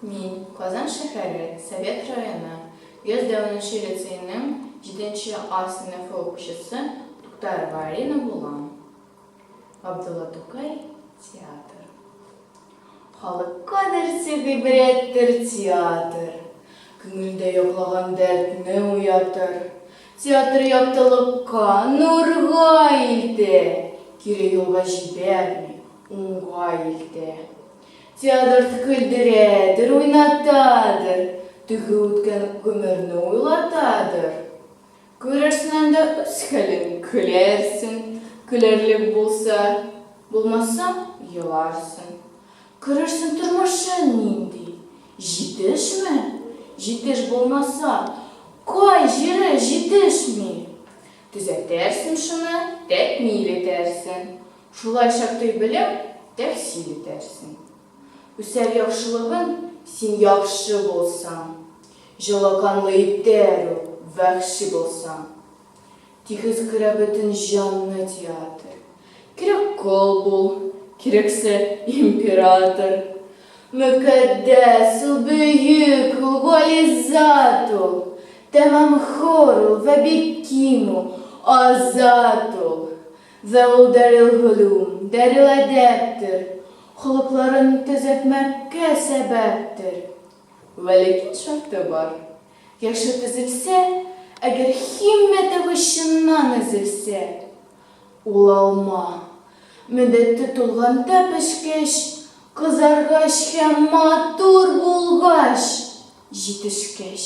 Мин, Казан шәһәре Совет районы 104 нче лицейның 7 нче А сыйныфы укучысы Туктарова Алина булам. Габдулла Тукай, театр. Халыкка дәрте гыйбрәттер театр, Күңелдә йоклаган дәртне уятыр. Театр яктылыкка, нурга илтә, Кире юлга җибәрми, Уңгай илтә. Театрда көлдерәдер, уйнатадыр, теге үткән гомерне уйлатадыр. Күрерсең анда үз хәлен, көләрсең, көләрлек булса, булмаса, еларсың. Күрерсең тормышың нинди, җитешме? Җитеш булмаса, кай җире җитешми? Төзәтәрсең шуны, тәкмил итәрсең. Шулайча төй белем тәхсил итәрсең. Үсәр яхшылыгың, син яхшы булсаң. Җылаканлы итәр ул, вәхши булсаң. Тигез күрә бөтен җанны театр. Кирәк кол бул, кирәксә император. Мөкатдәс ул, бөек ул, гали зат ул. Тәмам хор ул вә бик ким ул, азат ул. Вә ул дарелгөлүм, дареладәптер, холыкларын төзәтмәккә сәбәптер. Вә ләкин шарты бар, яше төзелсә, әгәр һиммәте вә чыннан өзелсә, ул алма, мөддәте тулганда пешкәч, кызаргач һәм матур булгач, җитешкәч.